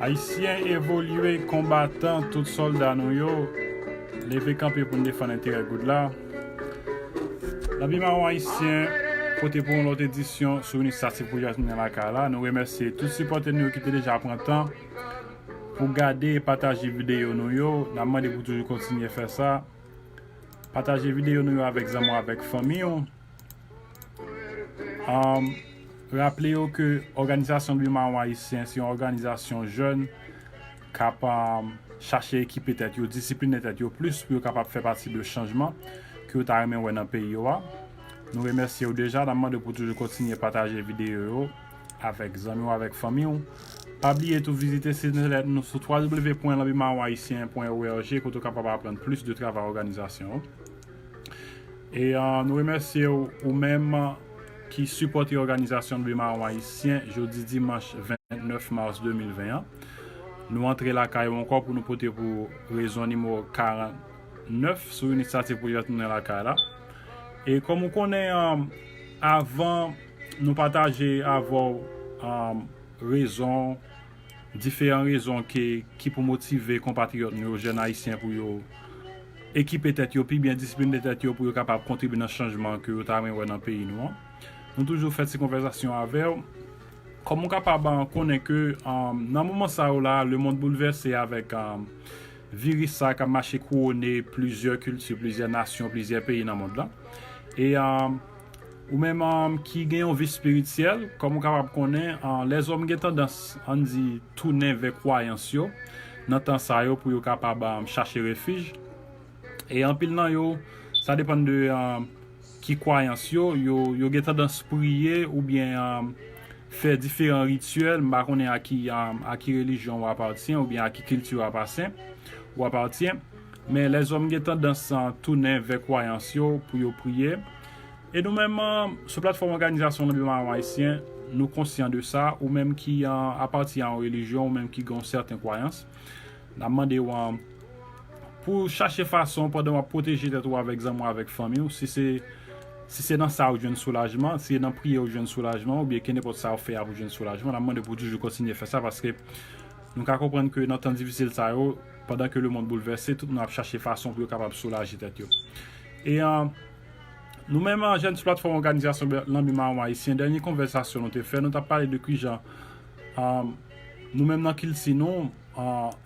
Ayisyen evolye konbatan tout solda nou yo leve kanpe pou n defann enterè Good la Lavi Mawon Ayisyen pote pou ou yon lòt edisyon sou Inisiyativ Pwojè Ayisyen Tounen Lakay la Nou remèsye tout sipòtè nou yo ki te deja pran tan pou gade e pataje videyo nou yo N ap mande pou toujou kontinye fè sa Pataje videyo nou yo avèk zanmi w avèk fanmi w Raple yo ke Òganizasyon Dwe Mawon Ayisyen se yon òganizasyon jèn k ap chache ekipe tèt yo, disipline tèt yo plis pou yo kapab fè pati de chanjman ke yo ta renmen wè nan peyi yo a. Nou remèsye ou deja, n ap mande w pou toujou kontinye pataje videyo yo avèk zanmi w, avèk fanmi w. Pa bliye tou vizite sit entènèt nou sou www.lanbimawonayisyen.org kote ou kapab aprann plis de travay òganizasyon an. E nou remèsye w ou menm ki sipòte òganizasyon Leve Mawon Ayisyen jodi dimanch 29 mas 2020 an. Nou antre lakay ou ankò pou nou pote pou ou rezon nimewo 49 sou inisyativ pwojè Tounen Lakay la. E kòm ou konnen avan nou pataje avè w rezon diferan rezon ke ki pou motive konpatriyòt nou yo, jèn ayisyen pou yo ekipe tèt yo pi byen, disipline tèt yo pou yo kapab kontribye nan chanjman ke yo ta renmen wè nan peyi nou an. Nou toujou fè ti konvèzasyon avè w. Kòm ou kapab konnen ke nan moman sa yo la, lemonn boulvèse avèk viris sa kap mache kouwone plizyè kilti, plizyè nasyon, plizyè peyi nan mond lan. E. Ou menm ki gen yon vi spirityèl, kòman ou kapab konnen lèzòm gen tandans, ann di, tounen vè kwayans yo nan tan sa yo pou yo kapab chache refij? E anpil nan yo, sa depann de ki kwayans yo, yo gen tandans priye oubyen fè diferan rityèl, m pa konnen a ki relijyon ou apatyen oubyen a ki kilti ou apatyen. Men lèzòm gen tandans tounen vè kwayans yo pou yo priye. E nou menm, sou platfòm Òganizasyon Lebe Mayon Ayisyen, nou konsyan de sa, ou menm ki apati a yon relijyon, ou menm ki gen yon sèten kwayans, n ap mande w pou w chache fason pandan w ap pwoteje tèt ou avèk zanmi w, avèk fanmi w, si se nan sa ou jwenn soulajman, si se nan priye ou jwenn soulajman, oubyen kenenpòt sa ou fè a pou w jwenn soulajman, n ap mande w pou w toujou kontinye fè sa, paske nou ka konprann ke nan tan difisil sa yo, Pandan ke lemond boulvèse, tout moun ap chache fason pou yo kapab soulaje tèt yo. E Nou menm Jèn sou Platfòm Òganizasyon Lanbi Mawon Ayisyen, dènye konvèsasyon nou te fè, nou t ap pale de kijan nou menm nan kilti nou,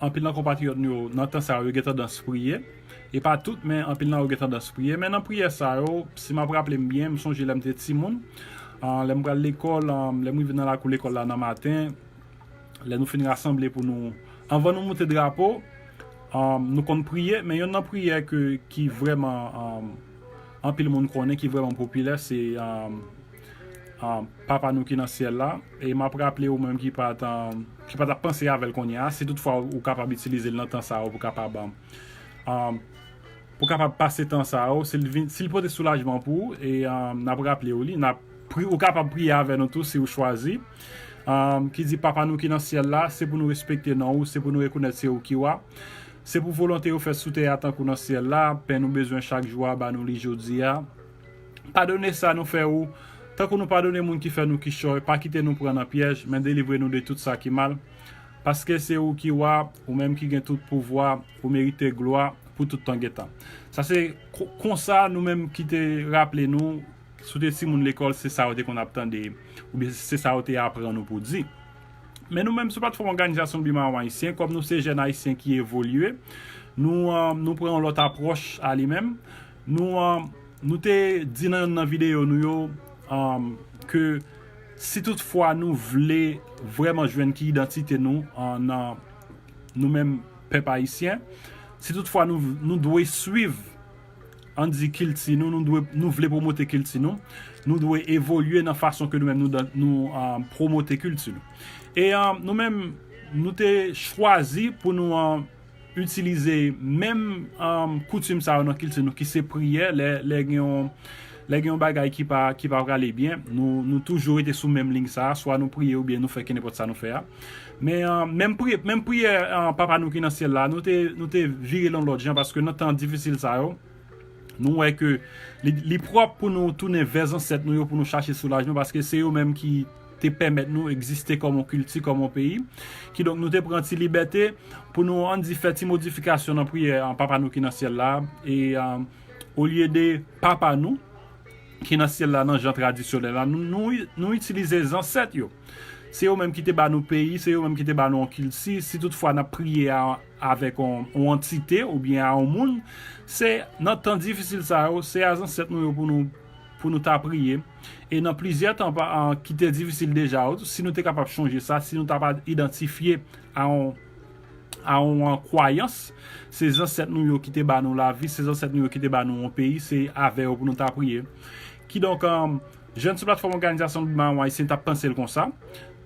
anpil nan konpatriyòt nou yo nan tan sa yo, yo gen tandans priye. E pa tout, men anpil nan yo gen tandans priye. Men nan priyè sa yo, si m ap raple m byen, m sonje lè m te timoun, lè m pral lekòl, lè m rive nan lakou lekòl la nan maten, lè nou fin rasanble pou nou anvan nou moute drapo nou konn priye men yonn nan priyè ki vrèman anpil moun konnen ki vrèman popilè se papa nou ki nan syèl la e map raple ou menm ki pa tap panse avèl kounye a si tout fwa ou kapab itilize l nan tan sa ou kapab Pou kapab pase tan sa yo, si l vin, si l pote soulajman pou ou, e n ap raple ou li, n ap pri, ou kapab priye avè nou tou si ou chwazi, ki di, Papa nou ki nan syèl la, se pou nou respekte non ou, se pou nou rekonèt se ou ki wa. Se pou volonte ou fèt sou tè a tankou nan syèl la, pen nou bezwen chak jou a, ba nou li jodi a. Padone sa nou fè ou, tankou nou padone moun ki fè nou kichòy, pa kite nou pran nan pyèj, men delivre nou de tout sa ki mal. Paske se ou ki wa, ou menm ki gen tout pouvwa, ou merite glwa pou tout tan gen tan. Sa se konsa nou menm ki te raple nou, si w te timoun lekòl se sa yo te konn ap tande oubyen se sa yo te aprann ou pou di. Men nou menm sou platfòm òganizasyon Biman Ayisyen, kòm nou se jèn ayisyen ki evolye, nou pran yon lòt apwòch a li menm. Nou te di nan youn nan videyo nou yo ke. Si tout fwa nou vle vrèman jwenn ki idantite nou nan nou menm pèp ayisyen, si tout fwa nou dwe swiv an di kilti nou, nou vle pwomote kilti nou, nou dwe evolye nan fason ke nou menm nou pwomote kilti nou. E nou menm nou te chwazi pou nou. itilize menm koutim sa yo nan kilti nou ki se priyè lè gen yon bagay ki pa prale byen nou toujou rete sou menm ling sa swa nou priye oubyen nou fè kenenpòt sa nou fè a menm priyè papa nou ki nan syèl la nou te vire l yon lòt jan paske nan tan difisil sa yo nou wè ke li pwòp pou nou tounen vè zansèt nou yo pou nou chache soulajman paske se yo menm ki te pèmèt nou egziste kòm yon kilti, kòm yon peyi. Kidonk, nou te pran ti libète pou nou, ann di, fè ti modifikasyon nan priyè Papa nou ki nan Syèl la a. E, olye de Papa nou ki nan Syèl la nan jan tradisyonèl la, nou itilize zansèt yo. Se yo menm ki te ba nou peyi, se yo menm ki te ba nou yon kilti. Si tout fwa n ap priye avèk yon antite oubyen a yon moun, se nan tan difisil sa yo, se a zansèt nou yo pou nou ta priye. E nan plizyè tan pa an ki te difisil deja yo, si nou te kapab chonje sa, si nou ta pa idantifye a yon a yon kwayans, se zansèt nou yo ki te ba nou lavi, se zansèt nou yo ki te ba nou yon peyi, se avè yo pou nou ta priye. Kidonk, jèn sou platfòm Òganizasyon Dwe Maron Ayisyen t ap panse l konsa.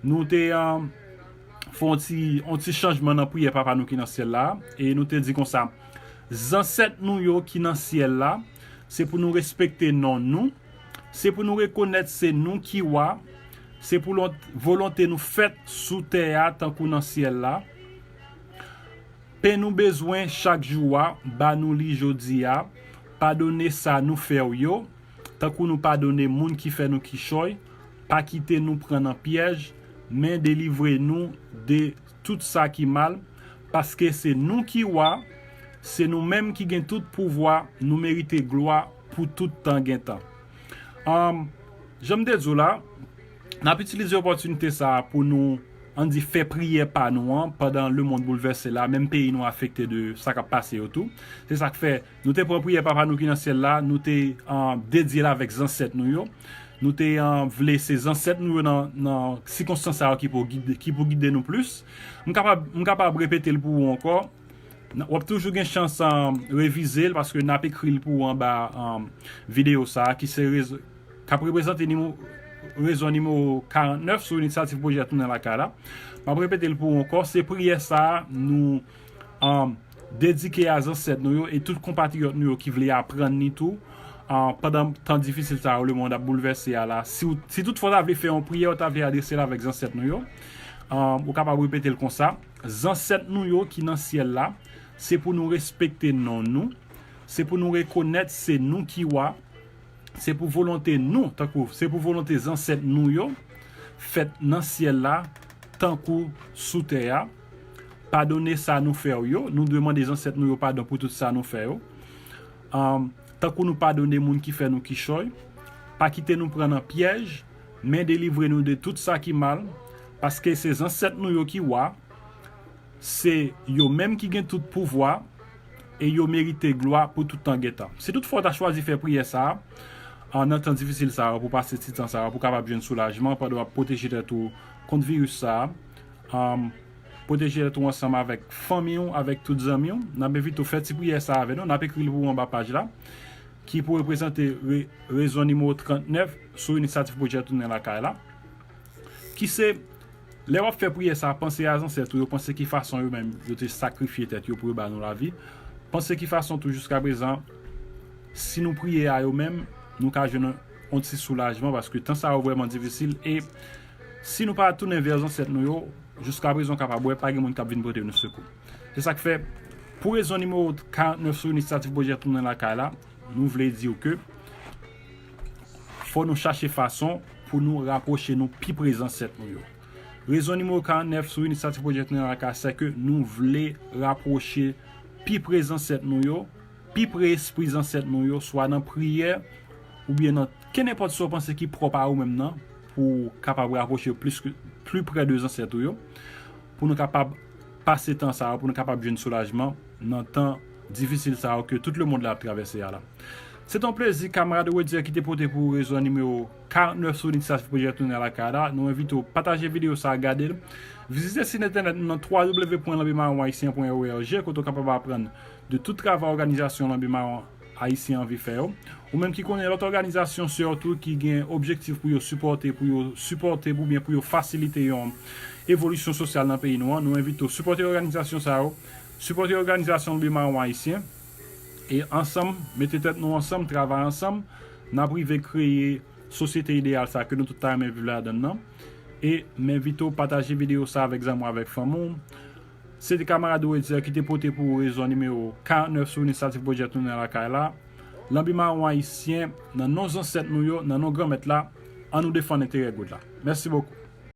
Nou te fè yon ti yon ti chanjman nan priyè Papa nou ki nan Syèl la a, e nou te di konsa, Zansèt nou yo ki nan Syèl la, se pou nou respekte non nou, Se pou nou rekonèt se nou ki wa, se pou volonte nou fèt sou tè a tankou nan syèl la. Pen nou bezwen chak jou a, ba nou li jodi a. Padone sa nou fè w yo, tankou nou padone moun ki fè nou kichòy. Pa kite nou pran nan pyèj, men delivre nou de tout sa ki mal. Paske se nou ki wa, se nou menm ki gen tout pouvwa, nou merite glwa. pou tout tan gen tan. Umm jan m te di w la, n ap itilize opòtinite sa a pou nou an di fè priyè pa nou an pandan lemonn boulvèse la, menm peyi nou afekte de sa k ap pase yo tou. Se sa k fè nou te pran priyè Papa nou ki nan Syèl la, nou te dedye l avèk zansèt nou yo. Nou te vle se zansèt nou yo nan sikonstans sa yo ki pou gide nou plis. M kapab repete l pou ou ankò. W ap toujou gen chans revize l paske n ap ekri l pou ou anba videyo sa a ki ap reprezante rezon nimewo 49 sou Inisyativ Pwojè Tounen Lakay la. M ap repete l pou ou ankò, se priyè sa a nou dedike a zansèt nou yo e tout konpatriyòt nou yo ki vle aprann li tou pandan tan difisil sa yo lemonn ap boulvèse a la. Si toutfwa w ta vle fè yon priyè, w ta vle adrese l avèk zansèt nou yo, ou kapab repete l konsa. Zansèt nou yo ki nan syèl la, se pou nou respekte non nou, se pou nou rekonèt se nou ki wa, se pou volonte nou, tankou se pou volonte zansèt nou yo, fèt nan syèl la tankou sou tè a, padone sa nou fè w yo, nou dwe mande zansèt nou yo padon pou tout sa nou fè yo, tankou nou padone moun ki fè nou kichòy, pa kite nou pran nan pyèj. Men delivre nou de tout sa ki mal, paske se zansèt nou yo ki wa, se yo menm ki gen tout pouvwa e yo merite glwa pou tout tan gen tan. Si toutfwa w ta chwazi fè priyè sa a nan tan difisil sa yo pou w pase ti tan sa yo pou w kapab jwenn soulajman pandan w ap pwoteje tèt ou kont viris sa a, pwoteje tèt ou ansanm avèk fanmi w, avèk tout zanmi w, n ap envite w fè ti priyè sa a avè nou, n ap ekri l pou ou anba paj la. ki pou reprezante rezon nimewo 39 sou initsativ pwojè tounen lakay la, ki se, Lè w ap fè priyè sa a, panse a zansèt ou yo, panse ki fason yo menm yo te sakrifye tèt yo pou yo ba nou lavi, panse ki fason tou jiskaprezan si nou priye a yo menm nou ka jwenn yon ti soulajman paske tan sa yo vrèman difisil e si nou pa tounen vè zansèt nou yo jiskaprezan w kapab wè pa gen moun k ap vin pote nou sekou. Se sa k fè, pou rezon nimewo 49 sou inisiyativ pwojè Tounen Lakay la, nou vle di w ke fò nou chache fason pou nou rapwoche nou pi pre zansèt nou yo. Rezon nimewo 49 sou inisiyativ pwojè Tounen Lakay se ke nou vle rapwoche pi pre zansèt nou yo, pi pre espri zansèt nou yo, swa nan priyè oubyen nan kenenpòt sa w panse ki pwòp a ou menm nan pou w kapab rapwoche w plis pli pre de zansèt ou yo. Pou nou kapab pase tan sa yo, pou nou kapab jwenn soulajman nan tan difisil sa yo ke tout lemond la ap travèse a la. Se te yon plezi kamarad Rodier ki te pote pou ou rezon an nimewo 49 sou Inisiyativ Pwojè Tounen Alakay la. Nou envite ou pataje videyo sa a, gade l, vizite sit entènèt nou nan www.lanbimaronayisyen.org kote ou kapab aprann de tout travay òganizasyon Lanbi Maron Ayisyen anvi fè yo. Ou menm ki konnen lòt òganizasyon sè w tou ki gen objektif pou yo sipòte, pou yo sipòte oubyen pou yo fasilite yon evolisyon sosyal nan peyi nou an, nou envite w sipòte òganizasyon sa yo, sipòte òganizasyon lbe mawon ayisyen e ansanm, mete tèt nou ansanm, travay ansanm, n ap rive kreye sosyete ideyal sa ke nou tout ta renmen viv ladan l lan. E m envite w pataje videyo sa avèk zanmi w, avèk fanmi w. Se te kamarad Wetzer ki te pote pou ou rezon nimewo 49 Souvni Static Project Tounen Lakay la Lanbi Mawon Ayisyen Nan non Zansèt nou yo, nan non Granmèt la, an nou defann enterè goud la. Mèsi bokou.